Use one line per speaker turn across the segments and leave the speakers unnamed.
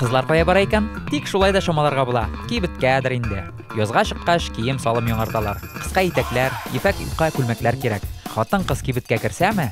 Кызлар кая бара икән? Тик шулай да чамаларга була. Кибеткәдер инде. Язга чыккач, кием салым яңарталар. Кыска итәкләр, ефәк юка күлмәкләр кирәк. Хатын кыз кибеткә керсәме,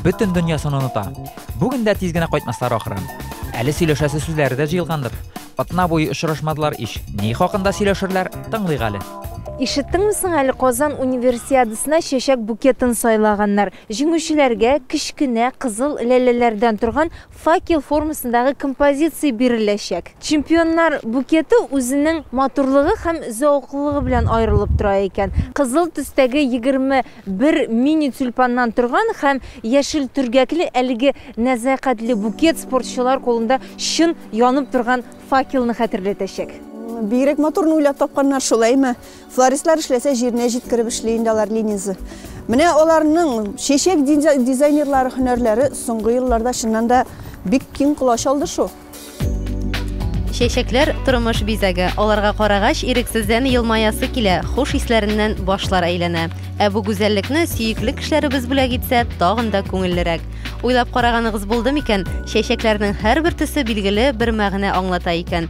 бөтен дөньясын оныта. Бүген дә тиз генә кайтмаслар ахры. Әле сөйләшәсе сүзләре дә җыелгандыр. Атна буе очрашмадылар ич. Ни хакында сөйләшерләр, тыңлыйк әле. Ишеттеңме соң
әле Казан универсиадасына чәчәк букетын сайлаганнар. Җиңүчеләргә кечкенә кызыл ләләләрдән торган Факел формасындагы композиция биреләчәк. Чемпионнар букеты үзенең матурлыгы һәм зәвыклылыгы белән аерылып тора икән. Кызыл төстәге егерме бер мини-тюльпаннан торган һәм яшел төргәкле әлеге нәзакәтле букет спортчылар кулында чын янып торган факелны хәтерләтәчәк. Бигрәк матурны
уйлап тапканнар, шулаймы? Флористлар эшләсә, җиренә җиткереп эшли инде алар Ленизы. Менә аларның чәчәк дизайнерлары һөнәрләре соңгы елларда чыннан да бик киң колач алды шул. Чәчәкләр
тормыш бизәге. Аларга карагач, ирексездән елмаясы килә, хуш исләреннән башлар әйләнә. Ә бу гүзәллекне сөекле кешеләребез бүләк итсә, тагын да күңеллерәк. Уйлап караганыгыз булды микән, чәчәкләрнең һәрбер төсе билгеле бер мәгънә аңлата икән.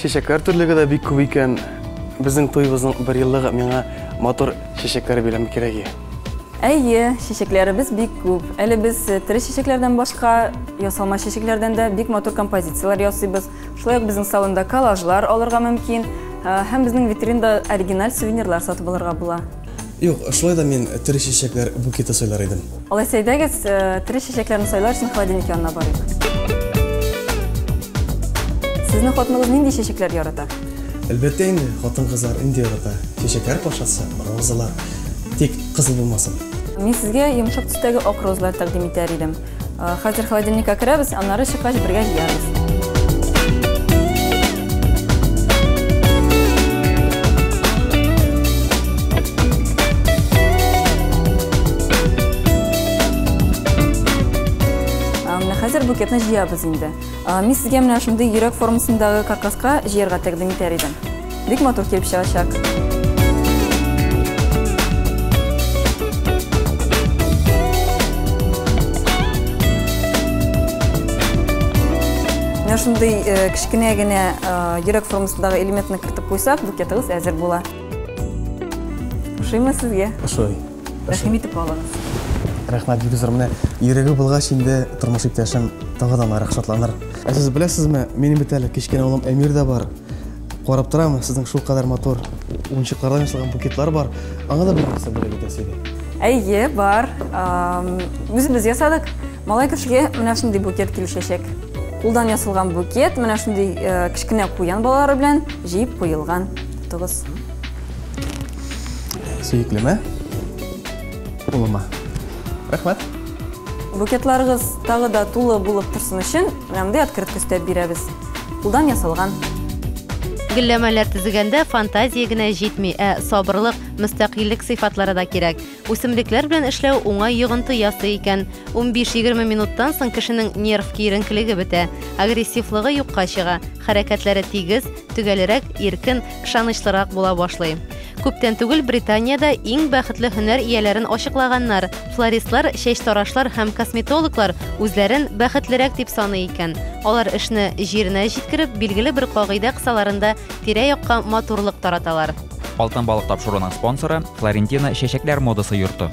Чәчәкләр төрлеге дә бик күп икән. Безнең туйыбызның бер еллыгы миңа матур чәчәкләр бирәме кирәге. Әйе,
чәчәкләребез бик күп. Әле без э, тере чәчәкләрдән башка ясалма чәчәкләрдән дә бик матур композицияләр ясыйбыз. Шулай ук безнең салонда коллажлар алырга мөмкин э, һәм безнең витринда оригиналь сувенирлар сатып алырга була. Юк, шулай
да мин тере чәчәкләр букеты сайлар идем. Алайса әйдәгез,
э, тере чәчәкләрне сайлар өчен холодильник янына барыйк. Сезнең хатыныгыз нинди чәчәкләр ярата? Әлбәттә инде,
хатын-кызлар инде ярата. Чәчәкләр патшасы, розалар. Тик кызыл булмасын. Мин сезгә
йомшак төстәге ак розалар тәкъдим итәр идем. Хәзер холодильникка керәбез, аннары чыккач бергә җыярбыз. Хәзер букетны җыябыз инде. Мин сезгә менә шундый йөрәк формасындагы каркаска җыярга тәкъдим итәр идем. Бик матур килеп чыгачак. Менә шундый э, кечкенә генә э, йөрәк формасындагы элементны кертеп куйсак, букетыгыз әзер була. Ошыймы сезгә? Ошый.
Рәхим итеп
алыгыз. Рәхмәт, Гөлзар,
менә йөрәге булгач инде тормыш иптәшем тагы да ныграк шатланыр. Ә сез беләсезме, минем бит әле кечкенә улым Эмир дә бар. Карап торам, сезнең шул кадәр матур уенчыклардан ясалган букетлар бар. Аңа да бер нәрсә бүләк итәсе иде. Әйе, бар.
Үзебез ясадык. Малай кешегә менә шундый букет килешәчәк. Кулдан ясалган букет, менә шундый э, кечкенә куян балалары белән җыеп куелган. Тотыгыз.
Сөеклеме? Улыма. Рәхмәт.
Букетларыгыз тагы да тулы булып торсын өчен, менә мондый открытка өстәп бирәбез. Кулдан ясалган.
Гөлләмәләр төзегәндә фантазия генә җитми, ә сабырлык, мөстәкыйльлек сыйфатлары да кирәк. Үсемлекләр белән эшләү уңай йогынты ясый икән. 15-20 минуттан соң кешенең нерв киеренкелеге бетә, агрессивлыгы юкка чыга, хәрәкәтләре тигез, төгәлрәк, иркен, ышанычлырак була башлый. Күптән түгел Британиядә иң бәхетле һөнәр ияләрен ачыклаганнар. Флористлар, чәчтарашлар һәм косметологлар үзләрен бәхетлерәк дип саный икән. Алар эшне җиренә җиткереп, билгеле бер кагыйдә кысаларында тирә-якка матурлык тараталар. Алтын балык
тапшыруның спонсоры, Флорентина чәчәкләр модасы йорты.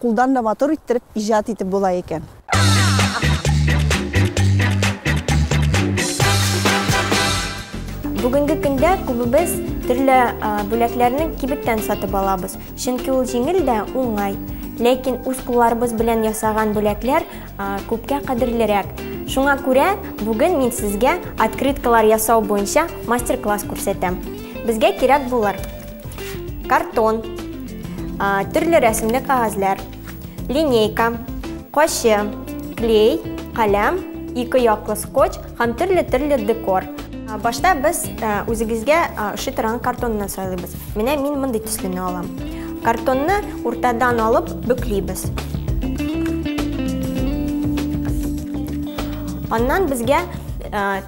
Кулдан да матур иттереп иҗат итеп була икән.
Бүгенге көндә күбебез төрле бүләкләрне кибеттән сатып алабыз, чөнки ул җиңел дә уңай. Ләкин үз кулларыбыз белән ясаган бүләкләр күпкә кадерлерәк. Шуңа күрә бүген мин сезгә открыткалар ясау буенча мастер-класс күрсәтәм. Безгә кирәк булыр картон, төрле рәсемле кагазьләр, линейка, кочы, клей, каләм, ике яклы скотч һәм төрле-төрле декор. Башта без үзегезгә ошый торган картонны сайлыйбыз. Менә мин мондый төслене алам. Картонны уртадан алып бөклибез. Аннан безгә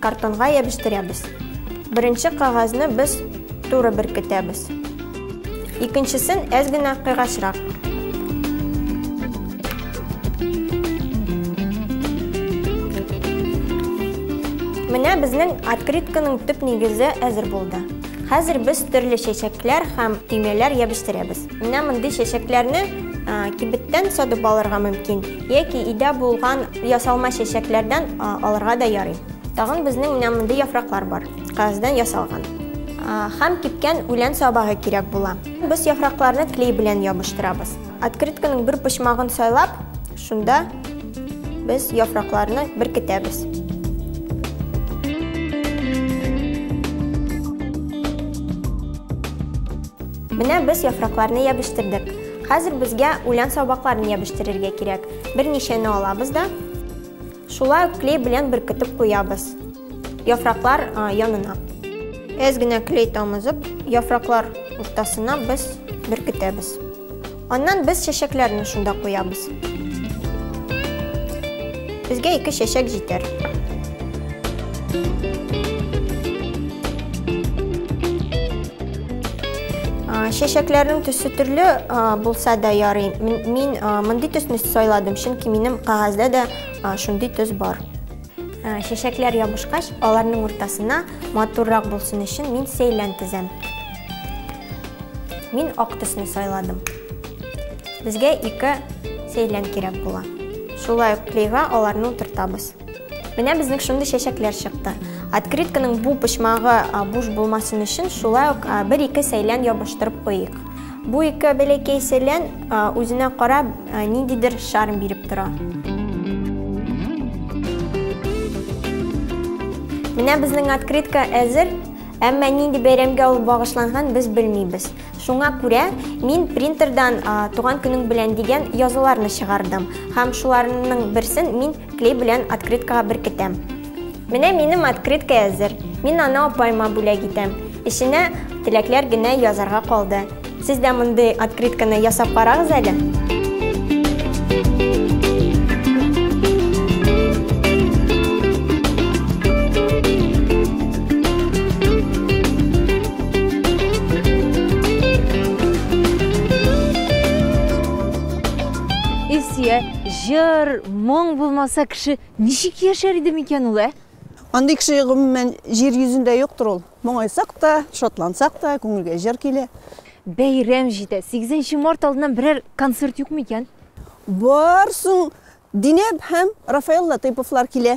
Картонга ябештерәбез. Беренче кагазны без туры беркетәбез. Икенчесен әз генә кыйгачрак. Менә безнең открытканың төп нигезе әзер булды. Хәзер без төрле чәчәкләр һәм төймәләр ябештерәбез. Менә мондый чәчәкләрне кибеттән садып алырга мөмкин, яки өйдә булган ясалма чәчәкләрдән алырга да ярый. Тагын безнең менә мондый яфраклар бар, кагаздан ясалган. Хәм кипкән үлән сабагы кирәк була. Без яфракларны клей белән ябыштырабыз. Открытканың бер почмагын сайлап, шунда без яфракларны беркетәбез. Менә без яфракларны ябештирдек. Хәзер безгә үлән сабакларын ябештирергә кирәк. Берничәне алабыз да шулай ук клей белән беркетеп куябыз. Яфраклар янына. Әз генә клей тамызып, яфраклар уртасына без беркетәбез. Аннан без чәчәкләрне шунда куябыз. Безгә ике чәчәк җитәр. Чәчәкләрнең төсе төрле булса да ярый. Мин мондый төсне сайладым, чөнки минем кагазьдә дә шундый төс бар. Ә, чәчәкләр ябышкач, аларның уртасына матуррак булсын өчен мин сәйлән тезәм. Мин ак төсне сайладым. Безгә ике сәйлән кирәк була. Шулай ук клейга аларны утыртабыз. Менә безнең шундый чәчәкләр чыкты. Открытканың бу почмагы буш булмасын өчен шулай ук бер-ике сәйлән ябыштырып куйыйк. Бу ике бәләкәй сәлән үзенә карап ниндидер шарм биреп тора. Менә безнең открытка әзер, әмма нинди бәйрәмгә ул багышланган без белмибез. Шуңа күрә мин принтердан туган көнең белән дигән язуларны чыгардым һәм шуларның берсен мин Клей белән открыткага беркетәм. Менә минем открытка әзер. Мин аны апайма бүләк итәм. Эченә теләкләр генә язарга калды. Сез дә мондый открытканы ясап карагыз әле.
Илсия Җыр, моң булмаса, кеше ничек яшәр иде микән ул, ә? Андый кеше,
гомумән, җир йөзендә юктыр ул. Моңайсак та, шатлансак та, күңелгә җыр килә. Бәйрәм
җитә. Сигезенче март алдыннан берәр концерт юкмы икән? Бар,
соң Динәб һәм Рафаэль Латыйповлар килә.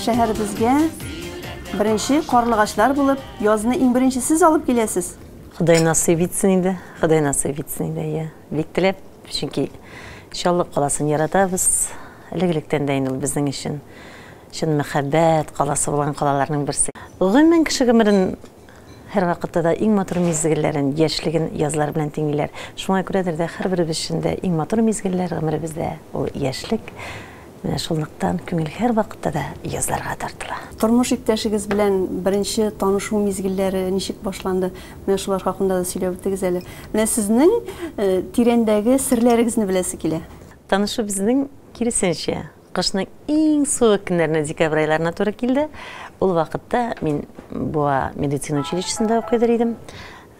Шәһәребезгә беренче карлыгачлар булып язны иң беренче сез алып киләсез. Ходай насыйп
итсен инде, Ходай насыйп итсен инде, иә. Бик теләп, чөнки Чаллы каласын яратабыз. Элек-электән дә инде ул безнең өчен чын мәхәббәт каласы булган калаларның берсе. Гомумән, кеше гомерен Һәрвакытта да иң матур мизгелләрен, яшьлеген язлар белән тиңлиләр. Шуңа күрәдер дә, һәрберебез өчен дә иң матур мизгелләр гомеребездә, ул яшьлек. Менә шунлыктан күңел һәрвакытта да язларга тартыла. Тормыш иптәшегез
белән беренче танышу мизгелләре ничек башланды? Менә шулар хакында да сөйләп үтегез әле. Менә сезнең тирәндәге серләрегезне беләсе килә. Танышу безнең,
киресенчә, Кышның иң суык көннәренә декабрь айларына туры килде. Ул вакытта мин Буа медицина училищесында укыйдыр идем.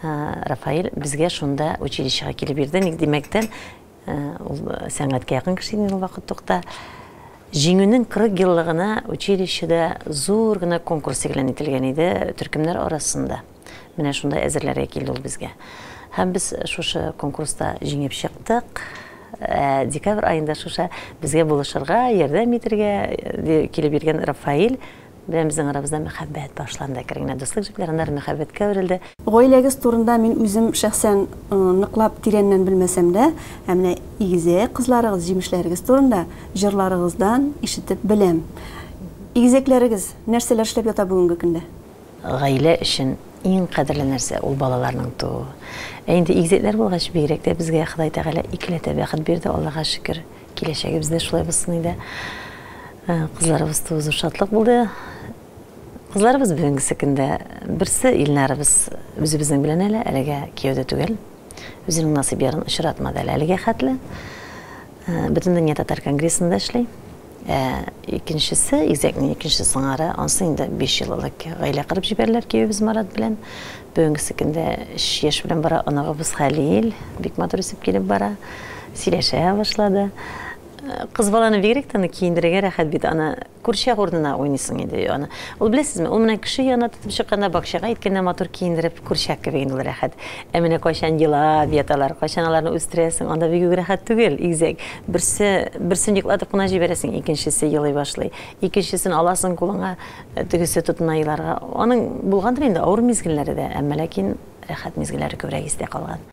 Рафаэль безгә шунда училищега килеп йөрде. Ник димәктән, ул сәнгатькә якын кеше иде ул вакыт тукта. Җиңүнең 40 еллыгына училищеда зур гына конкурс игълан ителгән иде төркемнәр арасында. Менә шунда әзерләргә килде ул безгә. Һәм без шушы конкурста җиңеп чыктык. Ә декабрь аенда шушы безгә булышырга, ярдәм итергә килеп йөргән Рафаэль белән безнең арабызда мәхәббәт башланды. Әкрен генә дуслык җепләре, аннары мәхәббәткә әверелде. Гаиләгез турында
мин үзем шәхсән ныклап тирәннән белмәсәм дә, ә менә игезәк кызларыгыз, җимешләрегез турында җырларыгыздан ишетеп беләм. Игезәкләрегез нәрсәләр эшләп ята бүгенге көндә? Гаилә
өчен иң кадерле нәрсә, ул балаларның тууы. Ә инде игезәкләр булгач, бигрәк тә безгә Ходай Тәгалә икеләтә бәхет бирде, Аллага шөкер. Киләчәгебез дә шулай булсын иде. Кызларыбыз тууы зур шатлык булды. Кызларыбыз бүгенгесе көндә, берсе Илнарыбыз үзебезнең белән әле, әлегә кияүдә түгел. Үзенең насыйп ярын очратмады әле әлегә хәтле. Бөтендөнья татар конгрессында эшли. Ә икенчесе, Изәкнең икенче сыңары, ансы инде биш ел элек гаилә кырып җибәреләр киявебез Марат белән. Бүгенгесе көндә өч яшь белән бара оныгыбыз Хәлил, бик матур үсеп килеп бара, сөйләшә башлады. Кыз баланы бигрәк тә аны киендерергә рәхәт бит, аны Курчак урынына уйныйсың инде аны. Ул, беләсезме, ул менә кеше янына тотып чыкканда, бакчага илткәндә матур киендереп, курчак кебек инде ул рәхәт. Ә менә кайчан елап яталар, кайчан аларны үстерәсең, анда бик үк рәхәт түгел, игезәк. Берсе, берсен йоклатып кына җибәрәсең, икенчесе елый башлый. Икенчесен аласың кулыңа, тегесе тотына еларга. Аның булгандыр инде авыр мизгелләре дә, әмма ләкин рәхәт мизгелләре күбрәк истә калган.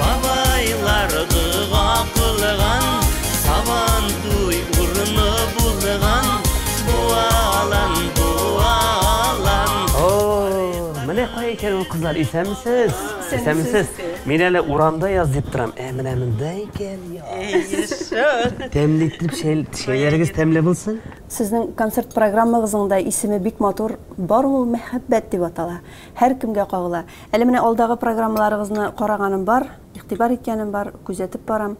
Бабайлар дога
кылган, сабантуй урыны булган, буалан, буалан. О, менә кая икән ул кызлар, исәнмесез? Исәнмесез. Мин әле урамда яз дип торам. Ә менә монда икән яз. Тәмле итеп чәй, чәйләрегез тәмле булсын. Сезнең концерт
программагызның да исеме бик матур, Бар ул мәхәббәт дип атала. Һәркемгә кагыла. Әле менә алдагы программаларыгызны караганым бар, игътибар иткәнем бар, күзәтеп барам.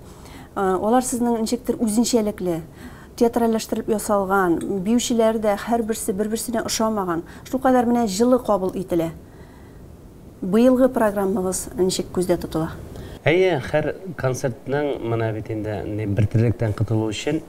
Алар сезнең ничектер үзенчәлекле, театральләштерелеп ясалган, биючеләр дә һәрберсе бер-берсенә ошамаган, шулкадәр менә җылы кабул ителә. Быелгы программагыз ничек күздә тотыла? Әйе, һәр
концертның, менә бит инде, бертирлектән котылу өчен,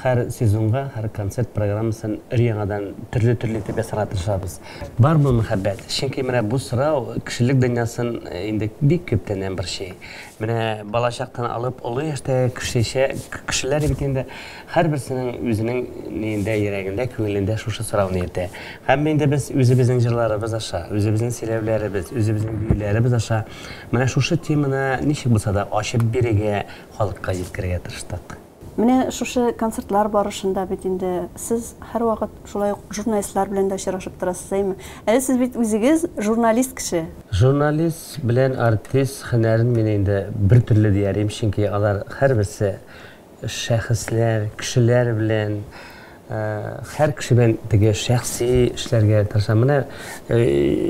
Һәр сезонга, һәр концерт программасын өр-яңадан төрле-төрле итеп ясарга тырышабыз. Бармы мәхәббәт? Чөнки менә бу сорау кешелек дөньясын инде бик күптәннән борчый. Менә балачактан алып олы яшьтәге кешечә, кешеләр бит инде һәрберсенең үзенең ниендә, йөрәгендә, күңелендә шушы сорауны йөртә. Һәм инде без үзебезнең җырларыбыз аша, үзебезнең сөйләүләребез, үзебезнең биюләребез аша менә шушы теманы ничек булса да ачып бирергә, халыкка җиткерергә тырыштык. Менә шушы
концертлар барышында бит инде сез һәрвакыт шулай ук журналистлар белән дә очрашып торасыз, әйме? Әле сез бит үзегез журналист кеше. Журналист
белән артист һөнәрен мин инде бер төрле дия алим, чөнки алар һәрберсе шәхесләр, кешеләр белән, һәр кеше белән теге шәхси эшләргә тырышам. Менә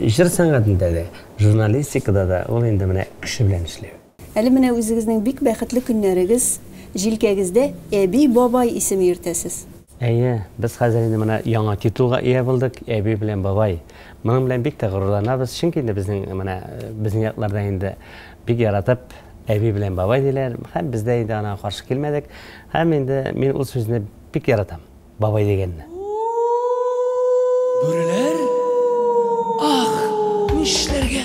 җыр сәнгатендә дә, журналистикада да ул инде менә кеше белән эшләү. Әле менә үзегезнең
бик бәхетле көннәрегез, җилкәгездә әби-бабай исеме йөртәсез. Әйе, без
хәзер инде менә яңа титулга ия булдык, әби белән бабай. Моның белән бик тә горурланабыз, чөнки инде безнең менә безнең якларда инде бик яратып әби белән бабай диләр һәм без дә инде аңа каршы килмәдек һәм инде мин ул сүзне бик яратам. Бабай дигәнне.
Бүреләр? Ах, нишләргә?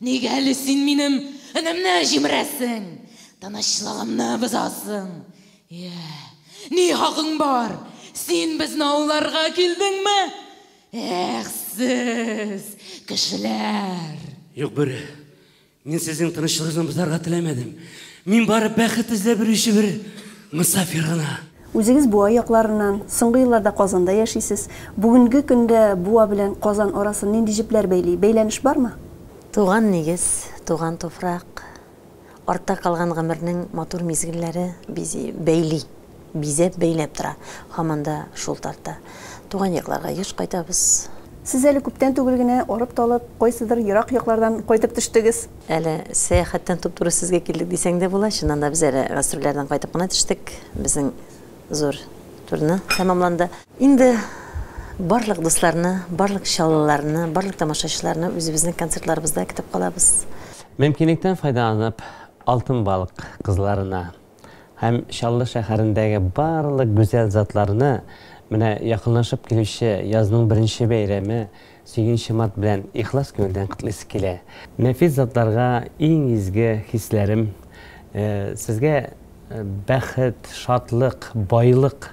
Нигә әле син минем өнемне җимерәсең, тынычлыгымны бозасың? Йә, ни хакың бар? Син безне ауларга килдеңме? Эх, сез, кешеләр! Юк, Бүре,
мин сезнең тынычлыгызны бозарга теләмәдем. Мин бары бәхет эзләп йөрүче бер мосафир гына. Үзегез Буа
якларыннан, соңгы елларда Казанда яшисез. Бүгенге көндә Буа белән Казан арасын нинди җепләр бәйли? Бәйләнеш бармы? Туган нигез,
туган туфрак, артта калган гомернең матур мизгелләре бизи, бәйли, бизәп, бәйләп тора. Һаман да шул тарта. Туган якларга еш кайтабыз. Сез әле күптән
түгел генә арып-талып, кайсыдыр ерак яклардан кайтып төштегез. Әле
сәяхәттән туп-туры сезгә килдек дисәң дә була. Чыннан да, без әле гастрольләрдән кайтып кына төштек. Безнең зур турне тәмамланды. Инде барлык дусларны, барлык чаллыларны, барлык тамашачыларны үзебезнең концертларыбызда көтеп калабыз. Мөмкинлектән
файдаланып, Алтын балык кызларына. Һәм Чаллы шәһәрендәге барлык гүзәл затларны менә якынлашып килүче язның беренче бәйрәме, Сөйгенче март белән ихлас күңелдән котлыйсы килә. Нәфис затларга иң изге хисләрем, сезгә бәхет, шатлык, байлык!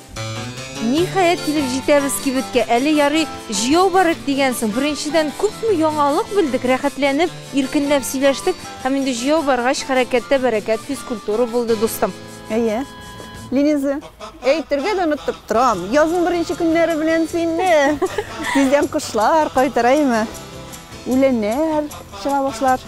Ниһаять
килеп җитәбез кибеткә. Әле ярый җыяу бар иде дигән соң. Беренчедән, күпме яңалык белдек, рәхәтләнеп, иркенләп сөйләштек. Һәм инде җыяу баргач, хәрәкәттә бәрәкәт, физкультура булды, дустым. Әйе.
Линиза, әйтергә дә оныттым. Торам. Язның беренче көннәре белән сине. Тиздән кошлар кайтыраймы? Үләннәр чыга башлар.